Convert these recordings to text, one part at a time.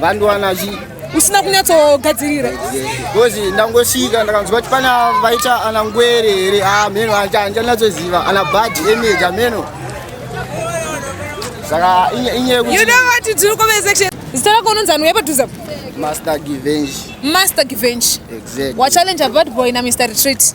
vandiwana chi usina kunyatsogadzirira because ndangosvika ndakanzwa kuti pana vaita ana ngwere here amheno ah, handinyatsoziva ana bad image amheno saka inyeyekuti tiri kuvesection zita rako unonzi anhu yepadhuza master givenge master givenge exactly wachallenja bad boy na mr retreat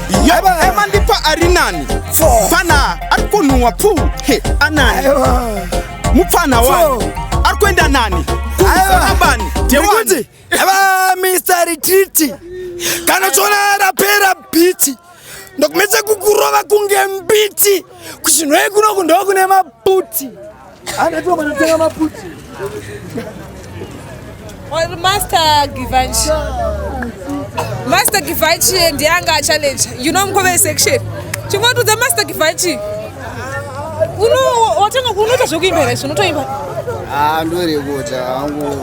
Yaba ema ndipa arinani Fana arikunuwa pu He anani Mupfana wani Arikuenda nani Kuzana bani Dewani Yaba Mr. Retreat Kana chona rapera biti Ndokumetse kukurova kunge mbiti Kuchinwe kuno kundokune maputi Anatuma anataka maputi. Or Master Givanchi. Master Givanchi and Yanga challenge. You know mkove section. Chingotudza Master Givanchi. Uno watanga kunoita zvekuimba here zvinotoimba? Ah ndorekota hangu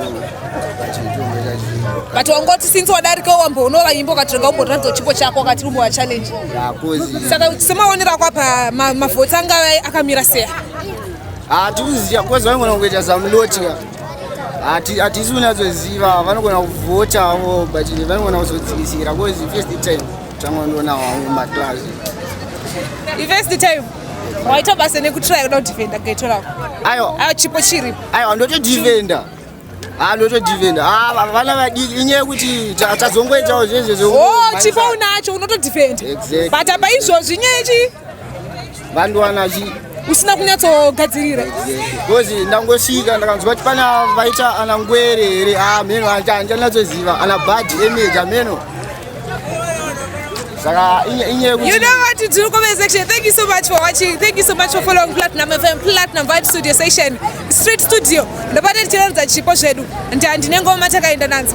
pachitombo chacho. But wangoti since wadarika wamboona vaimbo ukatanga umboratidza chipo chako wakati umbo wa challenge. Yeah, cause Saka semaonera kwapa mavhoti anga akamira seya. Hatikuziva because vanogona kuita some lotika hatisi kunatsoziva vanogona kuvhota avo but vanogona kuzodzikisira bcause first time tanga ndoona wangu maclass first time waita basa nekutraya kuda kudefenda gaito rako ayo ayo chipo chiripo ayo ndotodefenda Ah, not defend. Ah, vana vadiki inyaya yekuti tazongoitawo zvezve zvo. Oh, chipo unacho unoto defend. Exactly. But apa izvozvi inyaya yechi vanhu wana chi usina kunyatsogadzirira because ndangosvika ndakanzwa kuti pana vaita ana ngwere here amheno ah, andichanyatsoziva ana bad image amheno saka inyaya yekuti you know what to do comment section thank you so much for watching thank you so much for following platinum fm platinum vibe studio session Street Studio ndopane tichiratidza chipo zvedu ndandi nengoma takaenda nadzo.